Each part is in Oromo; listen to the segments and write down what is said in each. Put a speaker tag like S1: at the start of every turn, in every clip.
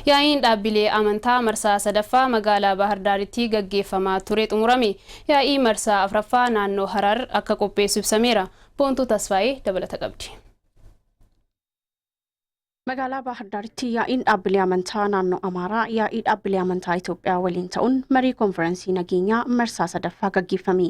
S1: Yaa'iin dhaabbilee amantaa marsaa 3ffaa magaalaa Baahar Daaritti gaggeeffamaa ture xumurame. Yaa'ii marsaa 4ffaa naannoo Harar akka qopheessu ibsameera. Boontuu Tasfaayee dabalata qabdi.
S2: Magaalaa Baahar Daaritti yaa'iin dhaabbilee amantaa naannoo Amaaraa yaa'ii dhaabbilee amantaa Itoophiyaa waliin ta'uun marii konfiransii nageenyaa marsaa 3ffaa gaggeeffame.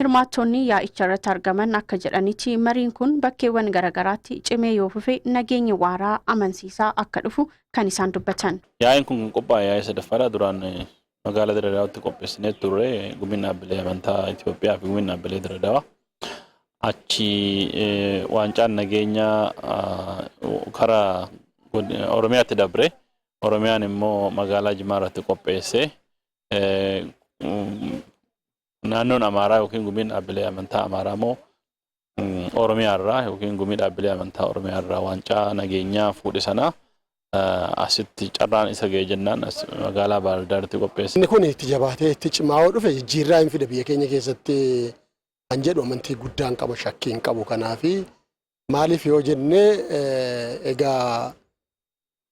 S3: Hirmaattonni
S2: yaa'icharratti argaman akka jedhanitti mariin kun bakkeewwan garagaraatti cimee yoo fufe nageenyi waaraa, amansiisaa akka dhufu kan isaan dubbatan. Yaa'iin kun kan qophaa'e
S4: yaa'ii sadaffaadha. Duraan magaalaa Dirree Dawaatti qopheessinee turre. Gumiin Dhaabbilee Amantaa Itoophiyaa fi Gumiin Dhaabbilee Dirree Dawaa achi waancaan nageenyaa karaa Oromiyaatti dabre. Oromiyaan immoo magaalaa Jimaa irratti qopheessee Naannoon Amaaraa yookiin gumiin dhaabbilee amantaa Amaaraa immoo Oromiyaa irraa yookiin gumii dhaabbilee amantaa Oromiyaa irraa waancaa nageenyaa fuudhe sana asitti carraan isa ga'e jennaan as magaalaa Baardaaritti qopheesse. Inni kun itti jabaatee
S5: itti cimaa'oo dhufe jijjiirraa hin fida biyya keenya keessatti kan jedhu amantii guddaan qaba shakkii hin qabu kanaafi maaliif yoo jenne egaa